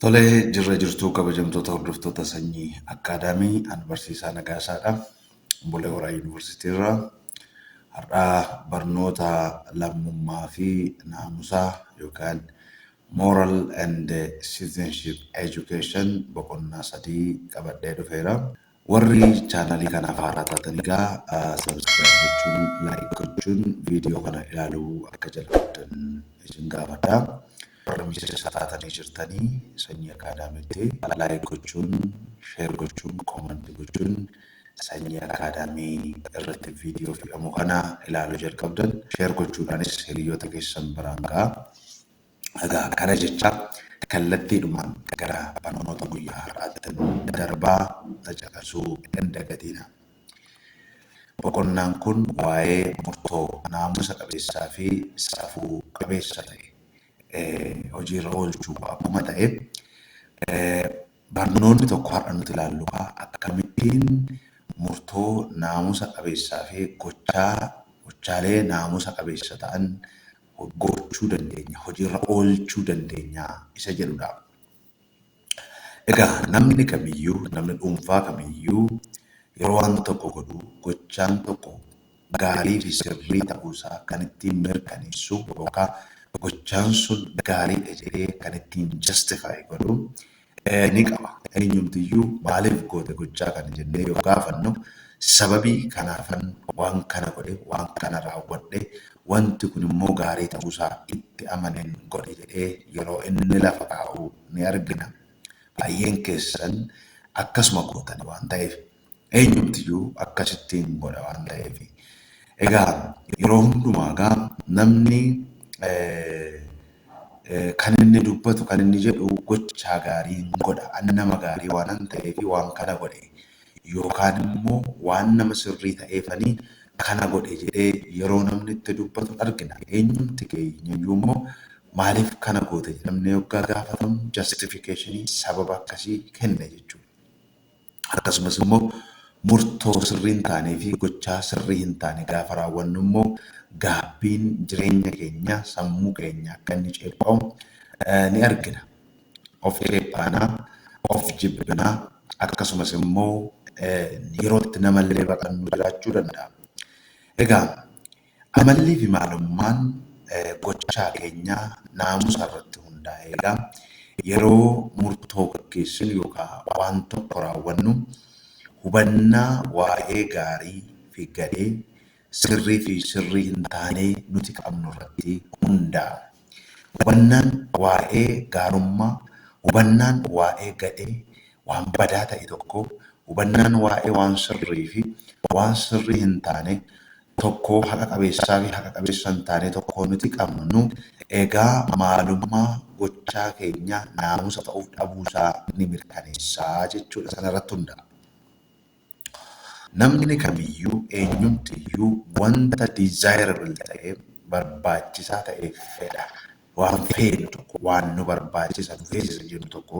Tole jirra jirtuu kabajamtoota hordoftoota sanyii akkaadaamii an barsiisaa nagaasaadha. Bulee Horaa Yuunivarsiitii irraa har'aa barnoota lammummaa fi naamusaa yookaan moral and citizenship education boqonnaa sadii qabadhee dhufeera. Warri chaanalii kanaaf haaraa taatan egaa subscribe gochuun like gochuun viidiyoo kana ilaaluu akka jalqabdan isin gaafadha. Warri miseensa taatanii jirtanii sanyii akaadaamiitti like gochuun share gochuun comment gochuun sanyii akaadaamii irratti viidiyoo fe'amu kana ilaaluu jalqabdan share gochuudhaanis hiriyoota keessan biraan ga'a. Egaa kana jechaa kallattiidhumaan gara barnoota guyyaa har'aattin darbaa na caqasuu hin dagatiinaa. Boqonnaan kun waa'ee murtoo naamusa qabeessaa fi safuu qabeessa ta'e hojiirra oolchuu akkuma ta'e, barnoonni tokko har'a nuti ilaallu kaa akkamittiin murtoo naamusa qabeessaa fi gochaa gochaalee naamusa qabeessa ta'an gochuu dandeenya, hojiirra oolchuu dandeenya isa jedhudha. Egaa namni kamiyyuu, namni dhuunfaa kamiyyuu yeroo waan tokko godhu gochaan tokko gaarii fi sirrii ta'uusaa kan ittiin mirkaneessu yookaan gochaan sun gaariidha jedhee kan ittiin justify godhu ni qaba. Eenyumtiyyuu maaliif goote gochaa kana jennee yoo gaafannu sababii kanaafan waan kana godhe, waan kana raawwadhe, wanti kun immoo gaarii ta'uusaa itti amaneen godhe jedhee yeroo inni lafa kaa'u ni argina. Baay'een keessan akkasuma gootani waan ta'eef Eenyumtiyyuu akkasitti hin godha waan ta'eef. Egaa yeroo hundumaa egaa namni kan inni dubbatu kan inni jedhu gochaa gaarii hin godha. Ani nama gaarii waanan ta'eef waan kana godhe yookaan immoo waan nama sirrii ta'eefanii kana godhe jedhee yeroo namni itti dubbatu argina. Eenyumti keenyayyuu immoo maaliif kana goote jedhamnee yoggaa gaafatamu jastifikeeshinii sababa akkasii kenna jechuudha. Akkasumas immoo murtoo sirrii hin taanee fi gochaa sirrii hin taane gaafa raawwannu immoo gaabbiin jireenya keenya sammuu keenya akka inni ceepha'u ni argina. Of ceephaanaa, of jibbinaa akkasumas immoo yerootti namallee baqannu jiraachuu danda'a. Egaa Amalliifi maalummaan gochaa keenyaa naamusa irratti hundaa'e. Egaa yeroo murtoo gaggeessinu yookaa waan tokko raawwannu hubannaa waa'ee gaarii fi gadhee, sirrii fi sirrii hin taanee nuti qabnu irratti hundaa'a. Hubannaan waa'ee gaarummaa, hubannaan waa'ee gadhee, waan badaa ta'e tokkoo, hubannaan waa'ee waan sirrii fi waan sirrii hin taane tokkoo, haqa qabeessaa fi haqa qabeessa hin taanee tokkoo nuti qabnu egaa maalummaa gochaa keenyaa naamusa ta'uuf dhabuu isaa ni mirkaneessa jechuudha. Sana irratti hundaa'a. Namni kamiyyuu eenyumtiyyuu wanta desirable ta'e, barbaachisaa ta'e fedha. Waan feenu tokko, waan nu barbaachisa, nu feesisa jennu tokko,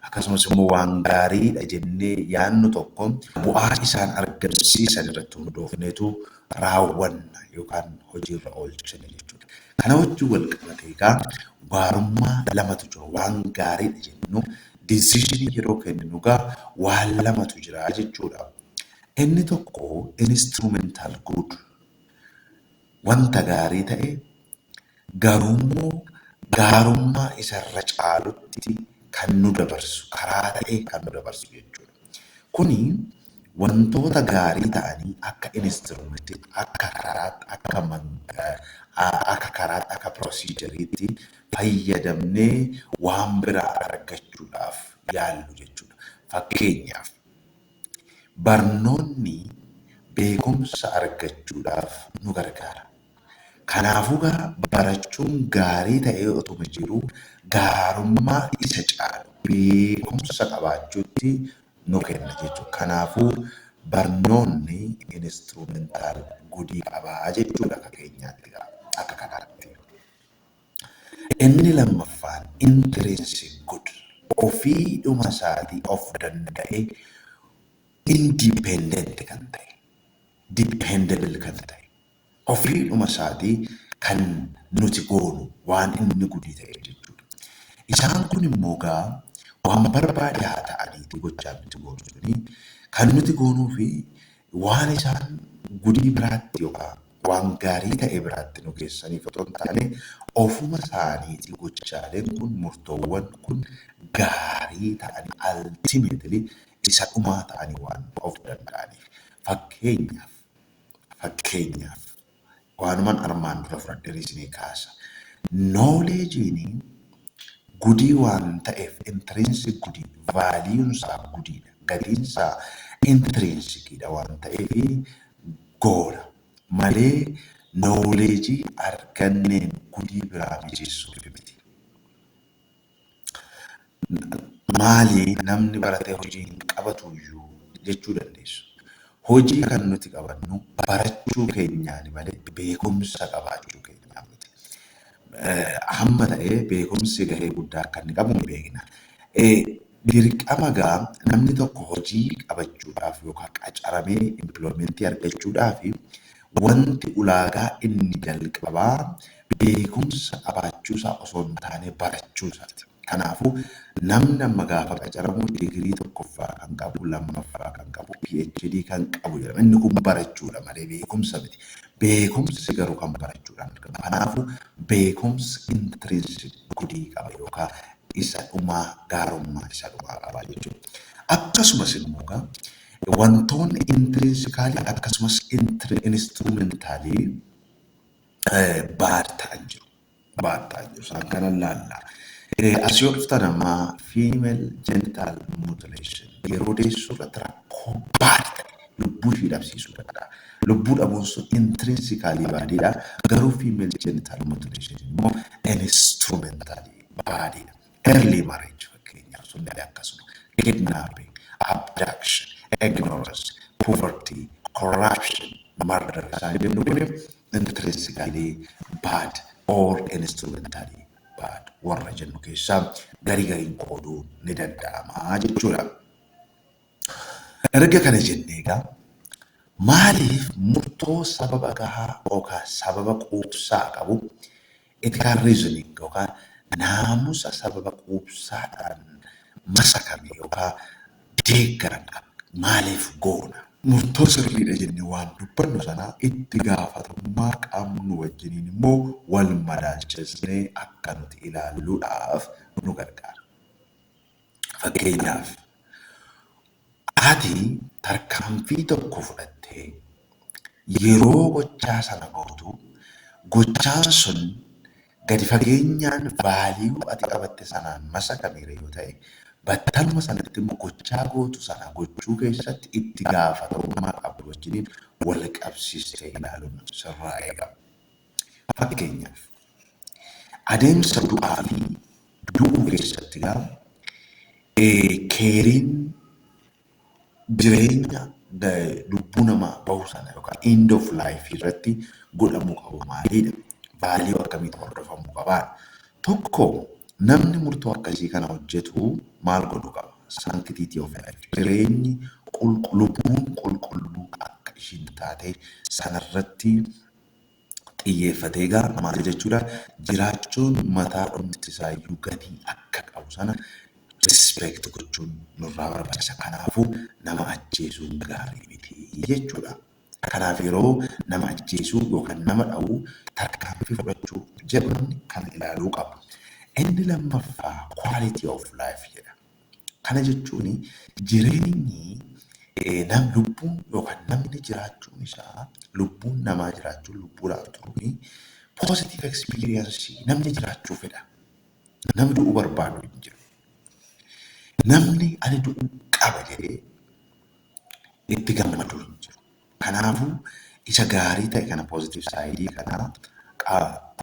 akkasumas immoo waan gaariidha jennee yaannu tokko bu'aa isaan argamsiisan irratti hundoofneetu raawwanna yookaan hojiirra oolchina jechuudha. Kana wajjin wal qabatee egaa gaarummaa lamatu jiru. Waan gaariidha jennu Decision yeroo kenninu egaa waan lamatu jira jechuudha. Inni tokko instrumental good wanta gaarii ta'e garuummoo gaarummaa isa irra caalutti kan nu dabarsu karaa ta'e kan nu dabarsu jechuudha. Kuni wantoota gaarii ta'anii akka instrumenttitti akka karaatti akka akka karaatti akka proceduriitti fayyadamnee waan biraa argachuudhaaf yaallu jechuudha. Fakkeenyaaf, barnoonni beekumsa argachuudhaaf nu gargaara. Kanaafugaa barachuun gaarii ta'ee otuma jiruu gaarummaa isa caalu beekumsa qabaachuutti nu kenna jechuudha. Kanaafuu barnoonni instrumental gudii qabaa jechuudha akka keenyaatti akka kanaatti. Inni lammaffaan, intrinsic good, ofiidhuma isaatii of danda'ee independent kan ta'e, dependable kan ta'e, ofiidhuma isaatii kan nuti goonu waan inni gudii ta'eef jechuudha. Isaan kun immoo gaa waan barbaade haa ta'aniitii gochaan nuti goonu suni kan nuti goonuu fi Waan isaan gudii biraatti yookaa waan gaarii ta'e biraatti nu geessaniif otoo hin taane, ofuma isaaniitii gochaaleen kun, murtoowwan kun gaarii ta'anii, ultimately isa dhumaa ta'anii waan of danda'aniif. Fakkeenyaaf, fakkeenyaaf. Waanuman armaan dura fudhadheen isinii kaasa. Knowledge'n gudii waan ta'eef, intrinsic gudii, value isaa gudiidha, gatiin isaa intrinsic dha waan ta'eef goona malee knowledge arganneen gudii biraa mijeessuuf miti. maali namni baratee hojii hin qabatuyyuu jechuu dandeessu. Hojii kan nuti qabannu barachuu keenyaani malee beekumsa qabaachuu keenyaa miti. Eh, Hamma ta'ee beekumsi gahee guddaa akka inni qabu ni beekna. Eh, Dirqama gaa namni tokko hojii qabachuudhaaf yookaan qacaramee impilomentii argachuudhaaf wanti ulaagaa inni jalqabaa beekumsa qabaachuusaa osoo hin taanee barachuusaati. Kanaafuu, namni amma gaafa qacaramu digirii tokkoffaa kan qabu, lammaffaa kan qabu, PhD kan qabu jedhama. Inni kun barachuudha malee beekumsa miti. Beekumsi garuu kan barachuudhaan argama. Kanaafuu, beekumsi intrinsic goodii qaba yookaa isa dhumaa gaarummaa isa dhumaa qaba jechuudha. Akkasumas immoo egaa wantoonni intrinsically akkasumas instrumentally baad ta'an jiru. Baad ta'an jiru. Isaan kana laalla. As yoo dhuftan amma female genital mutilation yeroo deessuu irratti rakkoo baad ta'e lubbuu ishii dhabsiisuu danda'a. Lubbuu dhabuun sun intrinsically baadiidha. Garuu female genital mutilation immoo instrumentally baadiidha. early marriage fakkeenyaaf sun illee akkasuma kidnapping, abduction, ignorance, poverty, corruption, murder isaan jennu kun intrinsically bad or instrumentally bad warra jennu keessaa garii gariin qooduun ni danda'ama jechuudha. Erga kana jennee egaa maaliif murtoo sababa gahaa yookaan sababa quubsaa qabu Ethical reasoning yookaan naamusa sababa quubsaadhaan masakame yookaan deeggarame akka maaliif goona? Murtoo sirriidha jennee waan dubbannu sana itti gaafatamummaa qabnu wajjiniin immoo wal madaalchisnee akka nuti ilaalluudhaaf nu gargaara. Fakkeenyaaf, Ati tarkaanfii tokko fudhattee yeroo gochaa sana gootu gochaan sun gadi fageenyaan value ati qabatte sanaan masakameera yoo ta'e battaluma sanatti immoo gochaa gootu sana gochuu keessatti itti gaafatamummaa qabdu wajjiniin wal qabsiistee ilaaluun sirraa eegama. Fakkeenyaaf, adeemsa du'aa fi du'uu keessatti gaa keeriin jireenya lubbuu namaa bahu sana yookaan end of life irratti godhamuu qabu maaliidha? Vaaliyuu akkamiitu hordofamuu qabaa? Tokko namni murtoo akkasii kana hojjetu maal godhu qaba? Sanctity of life jireenyi lubbuun qulqulluu akka ishiin taate sanarratti xiyyeeffatee egaa maal jechuudha jiraachuun mataa dhumti isaayyuu gatii akka qabu sana respect gochuun nurraa barbaachisa kanaafuu nama ajjeesuun gaarii miti jechuudha. Kanaaf yeroo nama ajjeesuu yookaan nama dha'uu tarkaanfii fudhachuu jedhu namni kana ilaaluu qaba. Inni lammaffaa quality of life jedha. Kana jechuun jireenyi nam lubbuun yookaan namni jiraachuun isaa lubbuun namaa jiraachuun lubbuudhaaf turuun positive experience namni jiraachuu fedha. Namni du'uu barbaadu hin jiru. Namni ani du'uu qaba jedhee itti gammadu hin jiru. Kanaafuu isa gaarii ta'e kana positive side kana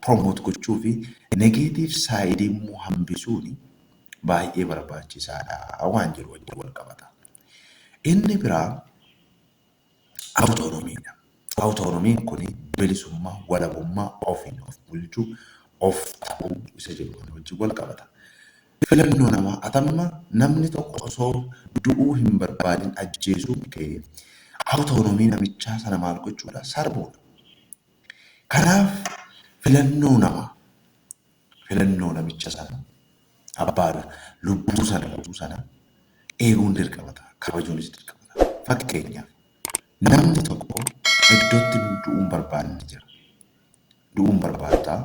promote gochuu fi negative side immoo hambisuun baay'ee barbaachisaadha waan jiru wajjin wal qabata. Inni biraa awutoonomiidha. Awutoonomiin kun bilisummaa, walabummaa, ofiin of bulchuu, of ta'uu isa jedhu kana wajjin wal qabata. Filannoo namaa atamma namni tokko osoo du'uu hin barbaadin ajjeesuun kee autonomy namichaa sana maal gochuudha? Sarbuudha. Kanaaf filannoo namaa, filannoo namicha sana, abbaadha, lubbuu sana guutuu sana eeguun dirqama ta'a, kabajuunis dirqama ta'a. Fakkeenyaaf namni tokko iddootti du'uu hin barbaanne jira. du'uu hin barbaadu ta'a.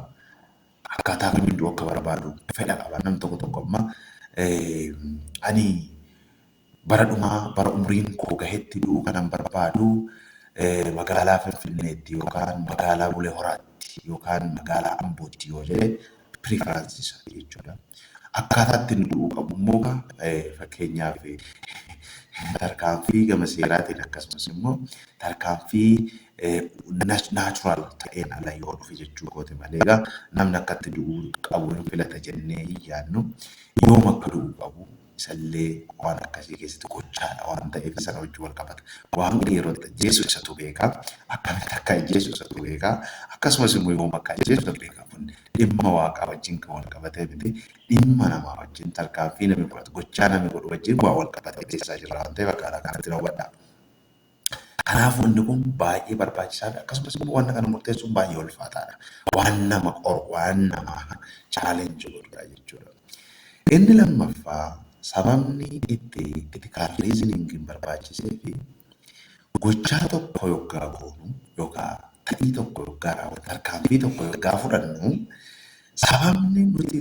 Akkaataa kamiin du'uu akka barbaadu fedha qaba. Namni tokko tokko amma ani bara dhumaa bara umriin koo gahetti du'uu kanan barbaadu magaalaa Finfinneetti yookaan magaalaa Bulee Horaatti yookaan magaalaa Ambootti yoo jedhe preference isaanii jechuudha. Akkaataa itti inni du'uu qabu immoo gaa eh, fakkeenyaaf eh, tarkaanfii gama seeraatiin akkasumas immoo tarkaanfii eh, nat- natural ta'een ala yoo dhufe jechuu kooti malee gaa namni akka itti du'uu qabu hin filata jennee hin yaadnu yoom akka du'uu qabu isallee waan akkasii keessatti gochaadha waan ta'eef sana wajjin wal qabata. Waaqni yeroo itti ajjeesu isatu beeka, akkamitti akka ajjeesu isatu beeka, akkasumas immoo yoom akka ajjeesu isatu beeka. Kun dhimma waaqaa wajjin kan wal qabatee miti, dhimma namaa wajjin, tarkaanfii namni fudhatu, gochaa namni godhu wajjin waan wal qabatee beeksisaa jirra waan ta'eef akkaataa kanatti na hubadhaa. Kanaaf wanni kun baay'ee barbaachisaa dha. Akkasumas immoo wanta kana murteessuun baay'ee ulfaataa dha. Waan nama qoru, waan nama challenge godhu dha jechuudha. Inni lammaffaa sababni itti critical reasoning hin barbaachisee fi gochaa tokko yoggaa goonu yookaan ta'ii tokko yoggaa raawwannu tarkaanfii tokko yoggaa fudhannu Sababni nuti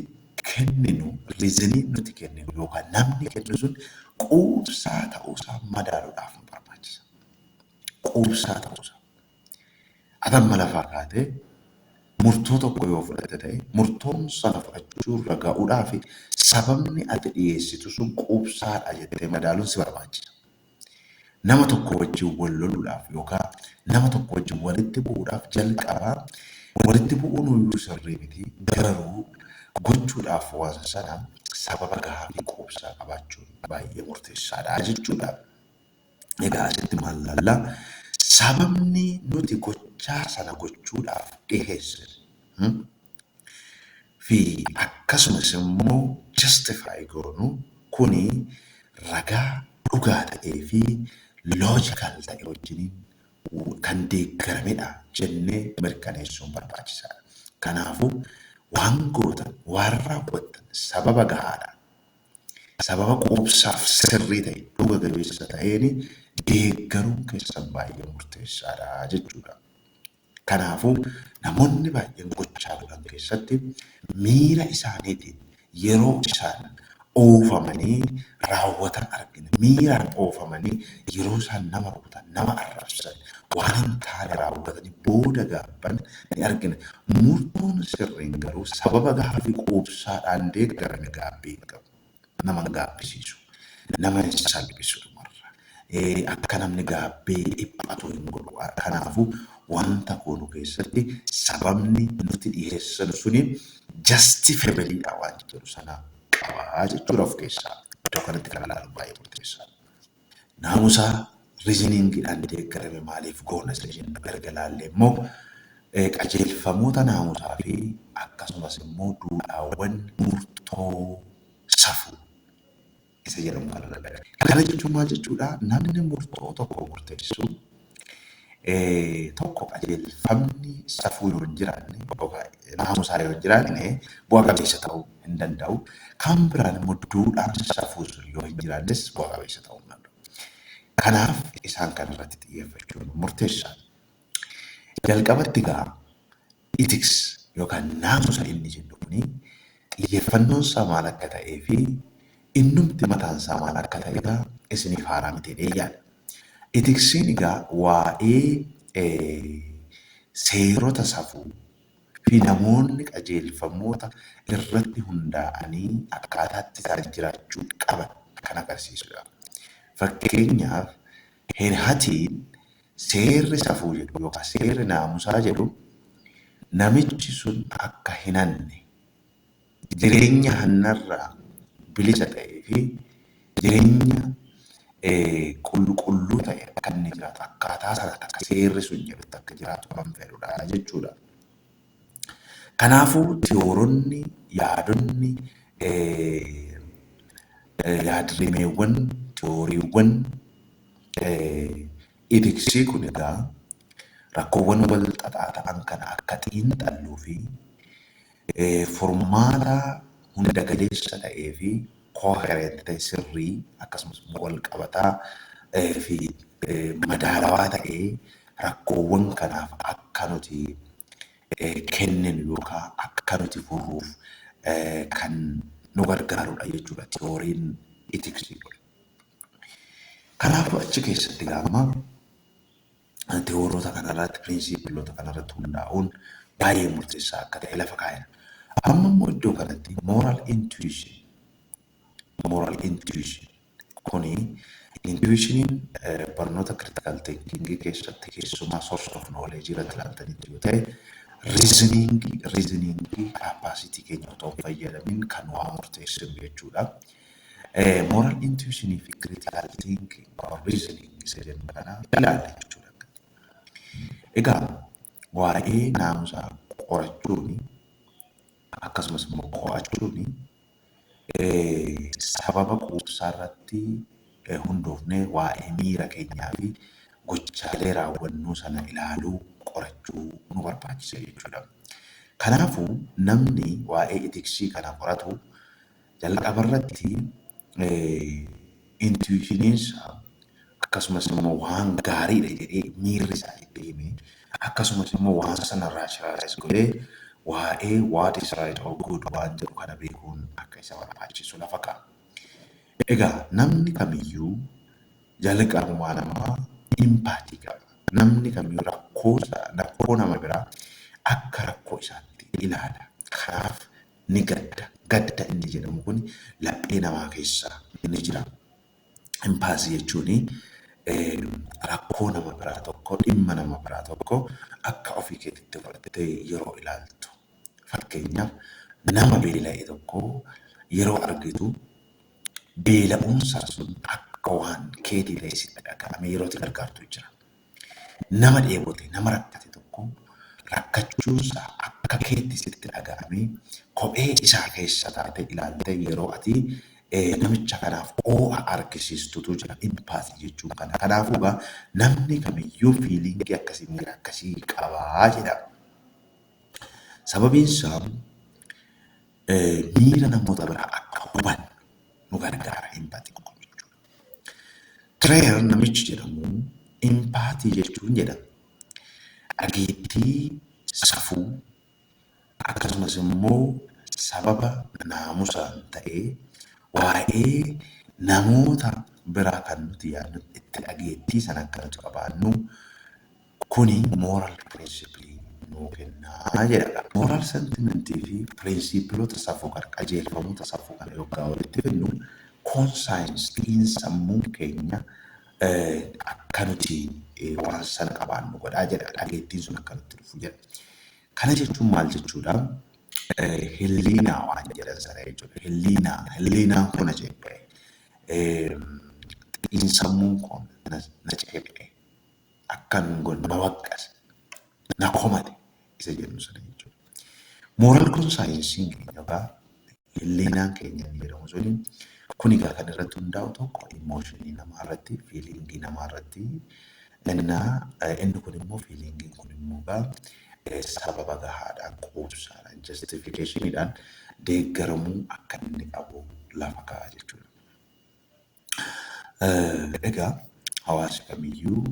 kenninu, reason, nuti kenninu yookaan namni kennu sun quubsaa ta'uusaa madaaluudhaaf nu barbaachisa. Quubsaa ta'uusaa. Ati amma lafaa kaatee murtoo tokko yoo fudhatte ta'e, murtoon sana fudhachuurra ga'uudhaaf sababni ati dhiyeessitu sun quubsaadha jettee madaaluun si barbaachisa. Nama tokko wajjin wal loluudhaaf yookaa nama tokko wajjin walitti bu'uudhaaf jalqaba walitti bu'uunuyyuu sirrii miti garuu gochuudhaaf waan sana sababa gahaa fi quubsaa qabaachuun baay'ee murteessaadha jechuudha. Egaa asitti maal laalla? Sababni nuti gochaa sana gochuudhaaf dhiheessinu. fi akkasumas immoo justify goonu kuni ragaa dhugaa ta'ee fi logical ta'e wajjiniin kan deeggaramedha jennee mirkaneessuun barbaachisaadha. Kanaafuu waan gootan, waan raawwattan sababa gahaadhaan, sababa quubsaaf sirrii ta'e, dhuga gabeessa ta'een deeggaruun keessan baay'ee murteessaadha jechuudha. Kanaafuu, namoonni baay'een gochaa godhan keessatti miira isaaniitiin yeroo isaan oofamanii raawwatan argina. Miiraan oofamanii yeroo isaan nama rukutan, nama arrabsan, waan hin taane raawwatanii booda gaabban ni argina. Murtoon sirriin garuu sababa gaaffii quubsaadhaan deeggarame gaabbii hin qabu. nama gaabbisiisu, nama hin salphisu dhumarra. Akka namni gaabbee dhiphatu hin godhu. Kanaafuu wanta goonu keessatti sababni nuti dhiheessinu suni justifable dha wanta jedhu sana qaba jechuudha of keessaa. Iddoo kanatti kan ilaalu baay'ee murteessaadha. Naamusa reasoning dhaan deeggarame maaliif goona isa jennu erga ilaallee immoo qajeelfamoota naamusaa fi akkasumas immoo duudhaawwan murtoo safuu isa jedhamu kana lallabe. Kana jechuun maal jechuudha? Namni murtoo tokko murteessu Tokko qajeelfamni safuu yoo hin jiraanne yookaan naamusaa yoo hin jiraanne bu'a qabeessa ta'uu hin danda'u. Kan biraan immoo duudhaan safuu sun yoo hin jiraannes bu'a qabeessa ta'uu hin danda'u. Kanaaf isaan kana irratti xiyyeeffachuun murteessaadha. Jalqabatti egaa ethics yookaan naamusa inni jennu kuni xiyyeeffannoon isaa maal akka ta'ee fi innumti mataan isaa maal akka ta'e egaa isiniif haaraa miti jedheen yaada. Ethicsiin egaa waa'ee seerota safuu fi namoonni qajeelfamoota irratti hundaa'anii akkaataa itti isaan jiraachuu qaban kan agarsiisudha. Fakkeenyaaf Hirhatiin seerri safuu jedhu yookaan seerri naamusaa jedhu namichi sun akka hin hanne, jireenya hannarraa bilisa ta'ee fi jireenya qulqulluu ta'e akka inni jiraatu, akkaataa sana akka seerri sun jedhutti akka jiraatu kan fedhudha jechuudha. Kanaafuu tiyooronni, yaadonni, yaadrimeewwan, tiyooriiwwan itiksii kun egaa rakkoowwan wal xaxaa ta'an kana akka xiinxalluu fi furmaata hunda galeessa ta'ee fi coherent ta'e, sirrii, akkasumas immoo walqabataa fi madaalawaa ta'e rakkoowwan kanaaf akka nuti kenninu yookaan akka nuti furruuf kan nu gargaarudha jechuudha tiyooriin itiksii kun. Kanaafuu achi keessatti gaamma tewooroota kanarratti, piriinsiipiloota kanarratti hundaa'uun baay'ee murteessaa akka ta'e lafa kaa'eera. Amma immoo iddoo kanatti moral intuition, moral intuition kuni intuitioniin barnoota critical thinking keessatti keessumaa source of knowledge irratti ilaaltanitti yoo ta'e reasoning reasoning capacity keenya otoo hin fayyadamin kan waa murteessinu jechuudha. Moral intuition fi critical thinking or reasoning isa jennu kana ilaalle jechuudha. Egaa waa'ee naamusaa qorachuun akkasumas immoo qo'achuun sababa quubsaa irratti hundoofnee waa'ee miira keenyaa fi gochaalee raawwannuu sana ilaaluu qorachuu nu barbaachisa jechuudha. Kanaafuu namni waa'ee itiksii kana qoratu Jalqabarratti intuishiniinsaa akkasumas immoo waan gaariidha jedhee miirri isaa itti hime akkasumas immoo waan sana raashinaalaayiz godhee waa'ee what is right or good waan jedhu kana beekuun akka isa barbaachisu lafa ka'a. Egaa namni kamiyyuu jalqabuma namaa impaatii qaba. Namni kamiyyuu rakkoo nama biraa akka rakkoo isaatti ilaala. Kanaaf ni gadda. Gadda inni jedhamu kun laphee namaa keessa ni jira. Impaasii jechuun rakkoo nama biraa tokko dhimma nama biraa tokko akka ofii keetitti fudhattee yeroo ilaaltu. Fakkeenyaaf nama beela'e tokko yeroo argitu beela'uunsaa sun akka waan keetii ta'ee sitti dhaga'amee yeroo itti gargaartu jira. Nama dheebote, nama rakkate tokko rakkachuunsaa akka keetti sitti dhaga'amee kophee isaa keessa taatee ilaaltee yeroo ati namicha kanaaf oo'a argisiistutu jira. Empathy jechuun kana. Kanaafuu egaa namni kamiyyuu fiiliingii akkasii miira akkasii qaba jedha. Sababiinsaa miira namoota biraa akka hubannu nu gargaara empathy kun jechuudha. Tireer namichi jedhamu impaatii jechuun jedhama. Dhageettii, safuu, akkasumas immoo sababa naamusaan ta'ee waa'ee namoota biraa kan nuti yaadnu itti dhageettii sana akka nuti qabaannu Kuni moral principle nuu kenna jedha. Moral sentiment fi piriinsiipilota safuu kana, qajeelfamoota safuu kana yoggaa walitti fidnu conscience, xiinsammuun keenya akka nuti waan sana qabaannu godha jedha. Dhageettiin sun akka nutti dhufu jedha. Kana jechuun maal jechuudha? Hilliinaa waan jedhan sana jechuudha. Hilliinaa, hilliinaan koo na ceepha'e. Xiinsammuun koo na ceepha'e. akkamin godha nama waqqase na komate isa jennu sana jechuudha. Mooral kun saayinsiin keenya yookaan hilleenaan keenya inni jedhamu suni kun egaa kan irratti hundaa'u tokko immooshinii namaa irratti fiiliingii namaa irratti innaa inni kun immoo fiiliingiin kun immoo egaa eh, sababa gahaadhaan quubsaadhaan jastifikeeshiniidhaan deeggaramuu akka inni qabu lafa kaa'a jechuudha. Egaa hawaasi kamiyyuu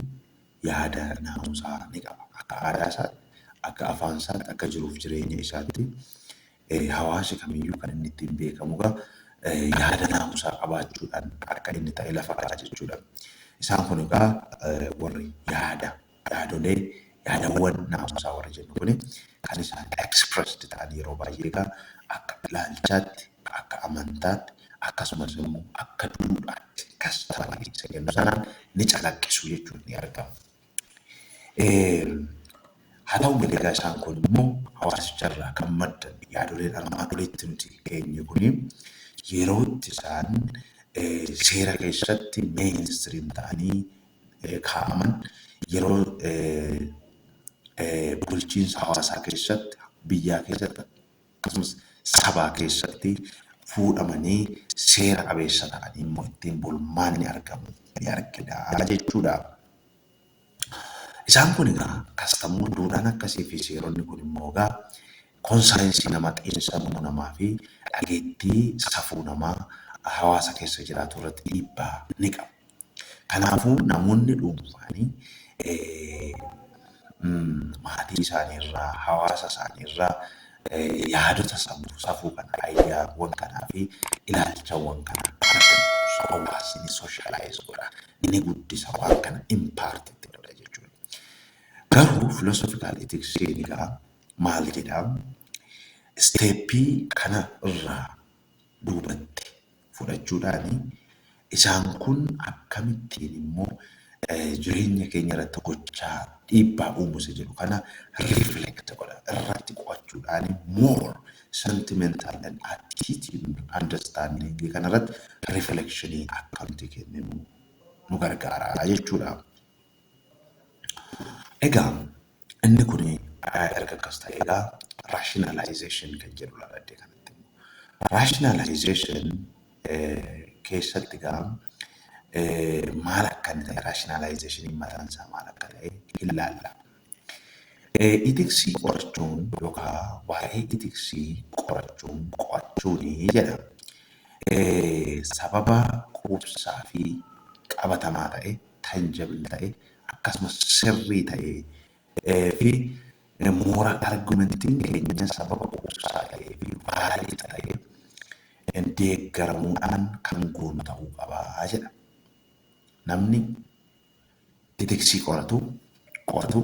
yaada naamusaa ni qaba. Akka aadaa isaatti, akka afaan isaatti, akka jiruuf jireenya isaatti hawaasi kamiyyuu kan inni ittiin beekamu egaa yaada naamusaa qabaachuudhaan akka inni ta'e lafa kaa'a jechuudha. Isaan kun egaa warri yaada Yaadolee, yaadawwan naamusaa warri jennu kuni kan isaan expressed ta'an yeroo baay'ee egaa akka ilaalchaatti, akka amantaatti akkasumas immoo akka duudhaatti, customly isa jennu sanaan ni calaqqisu jechuun ni argamu. Haa ta'u malee egaa isaan kun immoo hawaasicha irraa kan maddan yaadoleen armaan olitti nuti keenye kuni yerootti isaan seera keessatti mainstream ta'anii kaa'aman yeroo bulchiinsa hawaasaa keessatti, biyyaa keessatti akkasumas sabaa keessatti fuudhamanii seera qabeessa ta'anii immoo ittiin bulmaanni argamu ni argina jechuudha. Isaan kun egaa kastamuu duudhaan akkasii fi seeronni kun immoo egaa konsaayinsii nama xiinsammuu namaa fi dhageettii safuu namaa hawaasa keessa jiraatu irratti dhiibbaa ni qabu. Kanaafuu namoonni dhuunfaan maatii isaanii irraa, hawaasa isaanii irraa yaadota safuu, safuu kana, ayyaawwan kanaa fi ilaalchawwan kana argatu. So hawaasni ni socialize godha, ni guddisa waan kana impart itti godha jechuudha. Garuu philosophical ethics egaa maal jedha? Isteeppii kana irraa duubatti fudhachuudhaan isaan kun akkamittiin immoo jireenya keenya irratti gochaa dhiibbaa uumu isa jedhu kana reflect godha irratti qo'achuudhaan more sentimental and attitude understanding kana irratti reflection akka nuti kenninu nu gargaara jechuudha. Egaa Inni kun erga akkas ta'ee egaa rationalization kan jedhu laladde kanatti immoo. Rationalization keessatti egaa maal akka inni ta'e rationalizationin mataan isaa maal akka ta'e hin laalla. Itiksii qorachuun yookaan waa'ee itiksii qorachuun qo'achuun jedha. Sababa quubsaa fi qabatamaa ta'e tangible ta'e akkasumas sirrii ta'ee fi moora argumentiin keenya sababa quubsaa ta'ee fi vaalid ta'ee deeggaramuudhaan kan goonu ta'uu qaba jedha. Namni itiksii qoratu qoratu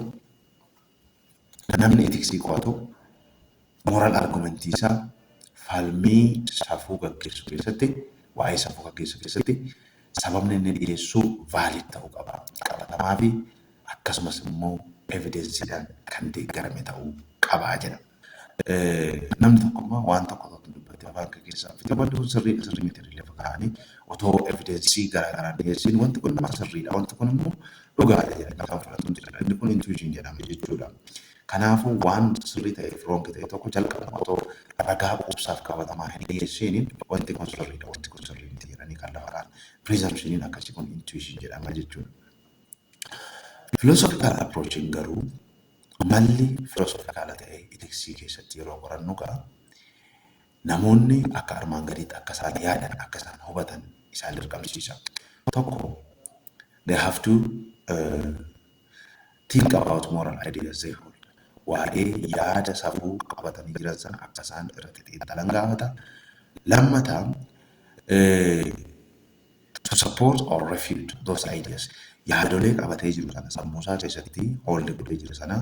Namni etiksii qo'atu moral argument isaa falmii safuu gaggeessu keessatti waa'ee safuu gaggeessu keessatti sababni inni dhiyeessu valid ta'uu qaba. Qabatamaa fi akkasumas immoo evidensiidhaan kan deeggarame ta'uu qaba jedha. Namni tokko immoo waan tokko tokko dubbattee afaan kee keessaa fite wanti kun sirrii dha sirrii miti jedhanii lafa kaa'anii otoo evidensii garaa garaan dhiyeessiin wanti kun nama sirrii dha wanti kun immoo dhugaa dha jedhanii kan fudhatan jira. Inni kun intuition jedhama jechuudha. Kanaafuu waan sirrii ta'ee fi roongi ta'e tokko jalqabuma otoo ragaa quubsaaf qabatamaa hin dhiyeessiin wanti kun sirrii dha wanti kun sirrii miti jedhanii kan lafa kaa'an presumptioniin akkasii kun intuition jedhama jechuudha. Philosophical approach'n garuu malli filosoofikaala ta'e ethics keessatti yeroo qorannu gaa namoonni akka armaan gadiitti akka isaan yaadan akka isaan hubatan isaan dirqamsiisa. Tokko they have to uh, think about moral ideas they hold. Waa'ee yaada safuu qabatanii jiran sana akka isaan irratti xiinxalan gaafata. Lammataa uh, To support or refute those ideas yaadolee qabatee jiru sana, sammuusaa keessatti hold godhee jiru sana,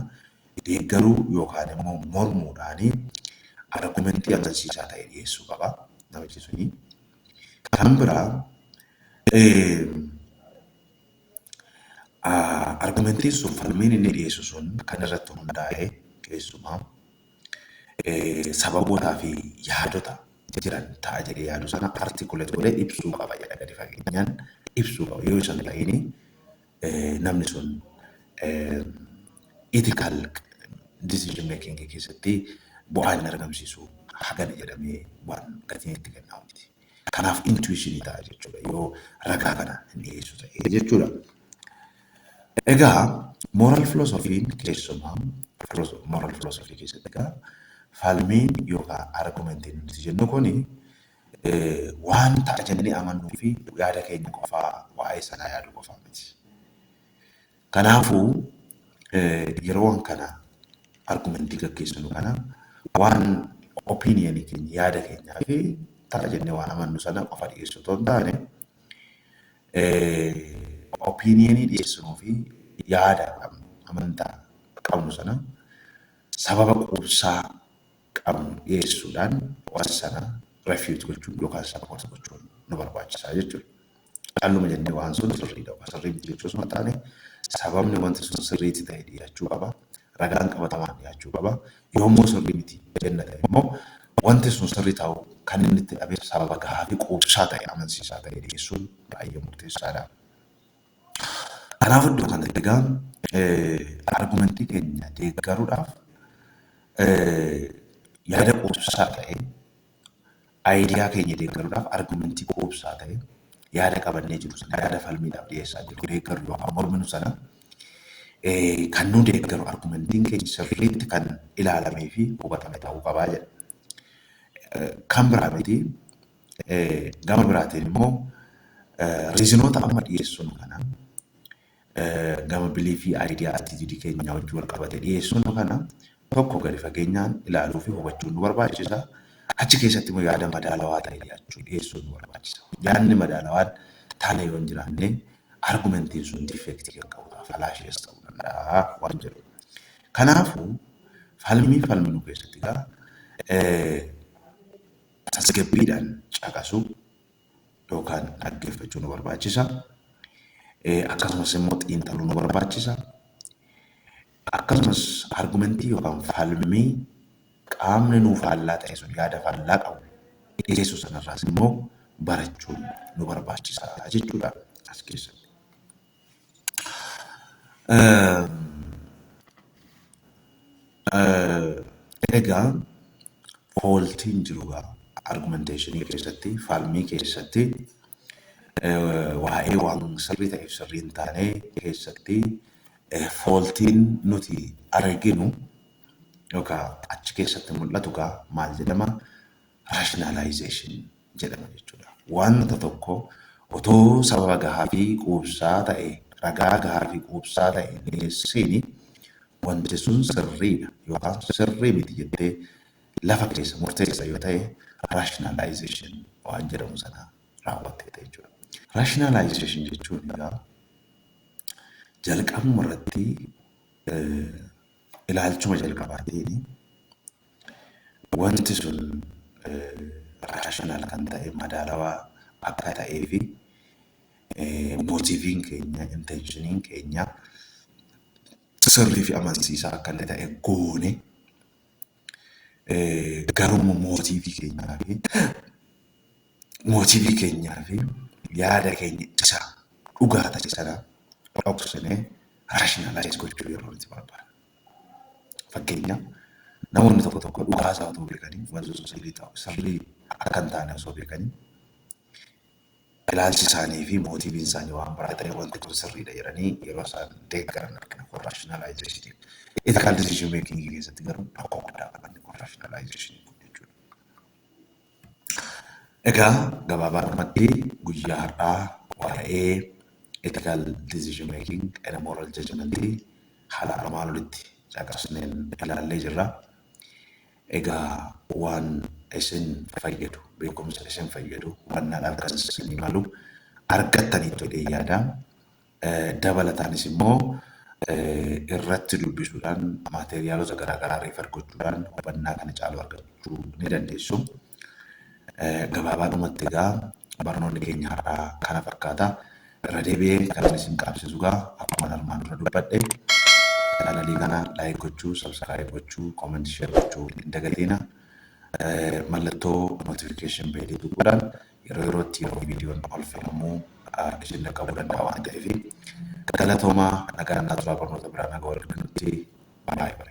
deeggaruu yookaan immoo mormuudhaan argumentii amansiisaa ta'e dhiyeessuu qaba namichi suni. Kan biraa argumentiin sun falmiin inni dhiyeessu sun kan irratti hundaa'e keessumaa sababootaa fi yaadota jiran ta'a jedhee yaadu sana articulate godhee ibsuu qaba jedha gadi fageenyaan ibsuu qaba yoo isan ta'ini namni sun ethical decision making keessatti bu'aa hin argamsiisu hagana jedhamee waan gatiin itti kennamu miti. Kanaaf intuishinii ta'a jechuudha yoo ragaa kana hin dhiyeessu ta'e jechuudha. Egaa moral filosofiin keessumaa moral filosofii keessatti egaa falmiin yookaan argumentiin nuti jennu kuni waan ta'a jennee amannuu fi yaada keenya qofaa waa'ee sanaa yaadu qofaa miti. Kanaafuu, yeroo waan kana argumentii gaggeessinu kana waan opinion keenya yaada keenyaa fi ta'a jennee waan amannu sana qofa dhiyeessu otoo hin taane opiniyeenii dhiyeessinuu fi yaada qabnu amantaa qabnu sana sababa quubsaa qabnu dhiyeessuudhaan wanta sana refute gochuun yookaan support gochuun nu barbaachisa jechuudha. Calluma jennee waan sun sirriidha yookaan sirrii miti jechuu osoo hin taane sababni wanti sun sirriitti ta'e dhiyaachuu qaba. Ragaan qabatamaan dhiyaachuu qaba. Yommuu sirrii miti jenna ta'e immoo wanti sun sirrii ta'uu kan inni itti dhabeef sababa gahaa fi quubsaa ta'e amansiisaa ta'e dhiyeessuun baay'ee murteessaadha. Kanaaf iddoo kanatti egaa argumentii keenya deeggaruudhaaf yaada quubsaa ta'e ayidiyaa keenya deeggaruudhaaf argumentii quubsaa ta'e yaada qabannee jiru sana yaada falmiidhaaf dhiyeessaa jiru deeggaru yookaan morminu sana kan nu deeggaru argumentiin keenya sirriitti kan ilaalamee fi hubatame ta'uu qabaa jedha. Kan biraa miti Gama biraatiin immoo riizinoota amma dhiyeessinu kana gama biliifii aayidiyaa atiitidii keenyaa wajjin wal qabate dhiyeessinu kana tokko gadi fageenyaan ilaaluu fi hubachuun nu barbaachisa. Achi keessatti immoo yaada madaalawaa ta'e dhiyaachuu dhiyeessuun nu barbaachisa. Yaadni madaalawaan taanee yoo hin jiraanne argumentiin sun difeektii kan qabudha. Falaashees ta'uu danda'a waan jedhu. Kanaafuu falmii falminu keessatti egaa tasgabbiidhaan caqasuu yookaan dhaggeeffachuu nu barbaachisa. Akkasumas immoo xiinxaluu nu barbaachisa. Akkasumas argumentii yookaan falmii qaamni nuu faallaa ta'e sun yaada faallaa qabu dhiyeessu sanarraas immoo barachuun nu barbaachisa jechuudha as keessatti. Egaa fooltiin jiru gaa argumenteeshinii keessatti falmii keessatti waa'ee waan sirrii ta'eef sirrii hin taane keessatti fooltiin nuti arginu yookaan achi keessatti mul'atu gaa maal jedhama rationalization jedhama jechuudha. Wanta tokko otoo sababa gahaa fi quubsaa ta'e, ragaa gahaa fi quubsaa ta'e hin dhiyeessiin wanti sun sirriidha yookaan sirrii miti jettee lafa keessa murteessa yoo ta'e rationalization waan jedhamu sana raawwatteetta jechuudha. Rationalization jechuun egaa jalqabuma irratti ilaalchuma jalqabaatiin Wanti sun rational kan ta'e madaalawaa akka ta'ee fi motiiviin keenya inteenshiniin keenya sirrii fi amansiisaa akka inni ta'e goone garuu mootiivii keenyaa fi mootiivii keenyaa fi yaada keenya isa dhugaa ta'e sana dhoksinee raashinalaayiz gochuu yeroo nuti barbaadu. Fakkeenyaaf, namoonni tokko tokko dhugaa isaa utuu beekanii wanti sun sirrii ta'u, sirrii akka hin taane osoo beekanii, ilaalchi isaanii fi mootiiviin isaanii waan biraa ta'ee wanti kun sirriidha jedhanii yeroo isaan deeggaran argina. Kun rationalization. Ethical decision making keessatti garuu rakkoo guddaa qaba inni kun rationalization kun jechuudha. Egaa gabaabaadhumatti guyyaa har'aa waa'ee ethical decision making and moral judgment haala armaan olitti caqasneen ilaallee jirra. Egaa waan isin fayyadu, beekumsa isin fayyadu, hubannaadhaaf kan isinii malu argattaniittu jedhee yaada. Dabalataanis immoo irratti dubbisuudhaan maateeriyaalota garaagaraa reefar gochuudhaan hubannaa kana caalu argachuu ni dandeessu. Gabaabaadhumatti egaa barnoonni keenya har'aa kana fakkaata. Irra deebi'ee kanan isin qaabsisu egaa akkuma armaan dura dubbadhe chaanalii kana laayik gochuu, sabskiraayib gochuu, koomentii sheer gochuu hin dagatiina. Mallattoo notification beelii tuquudhaan yeroo yerootti yeroo viidiyoon ol fe'amu isin dhaqqabuu danda'a waan ta'eef galatoomaa nagaan naa turaa barnoota biraan haga wal arginutti baay baay.